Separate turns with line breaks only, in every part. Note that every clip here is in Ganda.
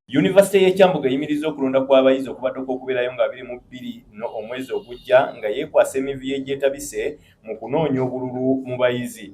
Yunivasite y'e Kyambogo eyimirizza okulonda kw'abayizi okubadde okw'okubeerayo nga biri mu bbiri no omwezi ogujja nga yeekwasa emivuyo egyetabise mu kunoonya obululu mu bayizi.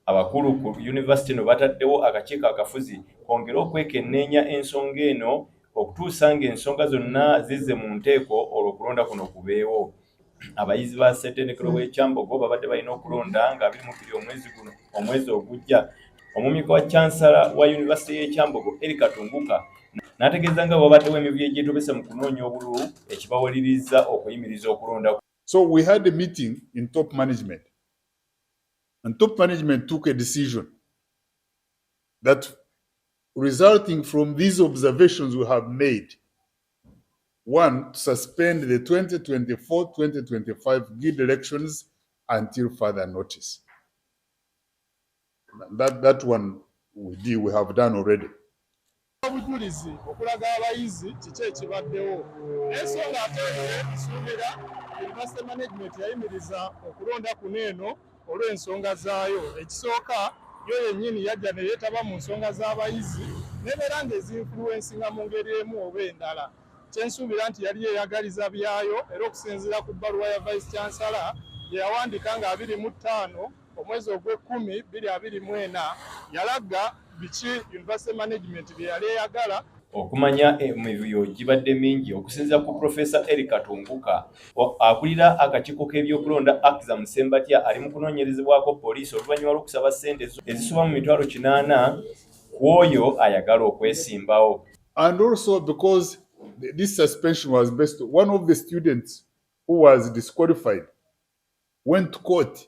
Abakulu ku yunivasite no bataddewo akakiiko akafuzi kongere okwekenneenya ensonga eno okutuusa ng'ensonga zonna zizze mu nteeko olwo okulonda kuno kubeewo. abayizi ba ssetendekero hmm. w'ekyambogo babadde balina okulonda nga abiri mu bbiri omwezi guno omwezi ogujja omumyuka wa cansala wa yunivasite y'ekyambogo eri katunguka n'ategeeza nga wabaddewo emivuyo egyetobese mu kunoonya obululu ekibawaliriza okuyimiriza okulonda so we had a
meeting in top management and top management took a decision that resulting from these observations we have made One, to suspend the 2024-2025 guild elections until further notice. That, that one we do, we have done already. obujulizi
okulaga abayizi kiki ekibaddewo ensonga ate nsuubira university management yayimiriza okulonda kuno eno olw'ensonga zaayo. Ekisooka, yo yennyini yajja ne yeetaba mu nsonga z'abayizi n'ebeera ng'ezinfuluwensinga mu ngeri emu oba endala. Kye nsuubira nti yali yeeyagaliza byayo era okusinziira ku bbaluwa ya Vice Chancellor gye yawandiika nga abiri mu ttaano omwezi ogw'ekkumi bbiri abiri mu ena, yalaga, biki university management bye yali eyagala okumanya
emivuyo gibadde mingi okusinzira ku profesa eric katunguka akulira akakiiko k'ebyokulonda akza musembatya ali mu kunoonyerezebwako poliisi oluvannyuma lw'okusaba ssente ezisoba mu mitwalo kinaana ku oyo ayagala okwesimbawo and also
because this suspension was based one of the students who was disqualified went to court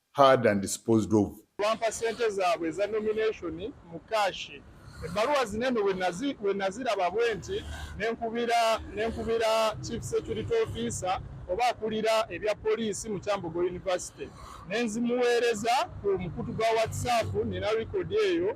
heard and disposed of. Bampa sente zaabwe
eza nomination mu kaashi. Ebbaluwa zino eno we naziraba bwe nti ne nkubira chief security officer oba akulira ebya poliisi mu Kyambogo University ne nzimuweereza ku mukutu gwa WhatsApp nina likodi eyo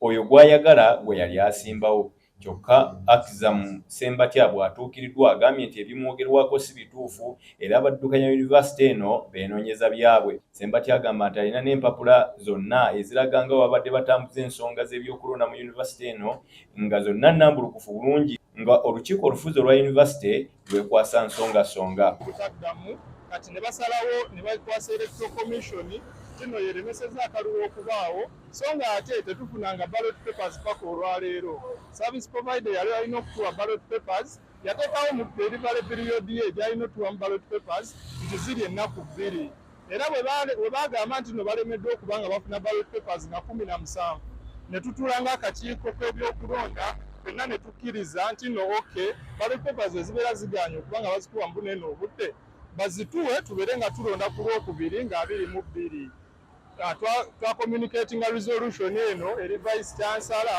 Oyo gw'ayagala gwe yali asimbawo. Kyokka Akzam Ssembatya bw'atuukiriddwa agambye nti ebimwogerwako si bituufu era abaddukanya yunivasite eno beenoonyeza byabwe. Ssembatya agamba nti alina n'empapula zonna eziraga nga bwe babadde batambuza ensonga z'ebyokulonda mu yunivasite eno nga zonna nnambulukufu bulungi nga olukiiko olufuzi olwa yunivasite lwekwasa nsongasonga kutaddamu
kati ne basalawo ne bakwasa electoral commission kino yeremeseza akalulu okubaawo so nga ate tetufunanga ballot papers paka olwaleero service provider yali alina okutuwa ballot papers yateekawo mu delivery period ye gyalina otuwa mu ballot papers nti ziri ennaku bbiri era bwe bagamba nti no balemeddwa okuba nga bafuna ballot papers nga kumi na musanvu ne tutuula ng'akakiiko k'ebyokulonda fenna ne tukkiriza nti no ok ballot papers ezibeera zigaanye okuba nga bazikuba mu buneeno obudde bazituwe tubeere nga tulonda ku lwokubiri nga abiri mu bbiri ah, twakomunicatinga resolution eno eri vice chansala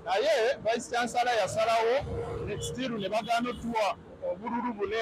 naye vice chansala yasalawo nextiru ne bagaana otuwa obululu bune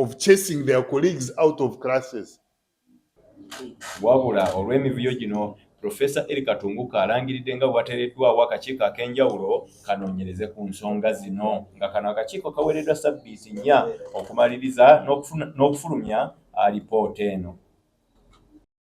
of chasing their colleagues out of classes. Wabula
olw'emivuyo gino Professor Eli Katunguka alangiridde nga bwatereddwawo akakiiko ak'enjawulo kanoonyereze ku nsonga zino nga kano akakiiko kaweereddwa sabbiiti nnya okumaliriza n'okufulumya alipoota eno.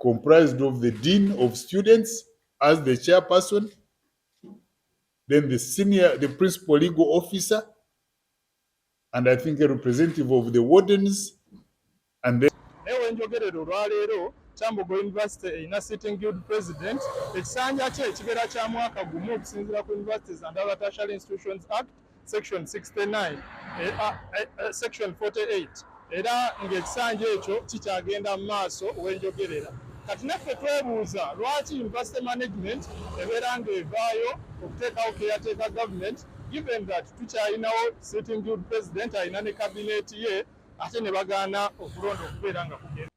comprised of the dean of students as the chairperson then the senior the principal legal officer and i think a representative of the wardens and then ewe njogerero
lwaleero kyambogo university erina sitting guild president ekisanja kye ekibeera kya mwaka gumu okusinziira ku universities and other tertiary institutions act section 69 eh, ah, eh, eh, section 48 era ng'ekisanja ekyo kikyagenda mu maaso wenjogerera kati naffe twebuuza lwaki university management ebeera ng'evaayo okuteekawo keyateeka government given that tukyalinawo sitting good president alina ne kabineeti ye ate ne bagaana okulonda okubeera nga kugenda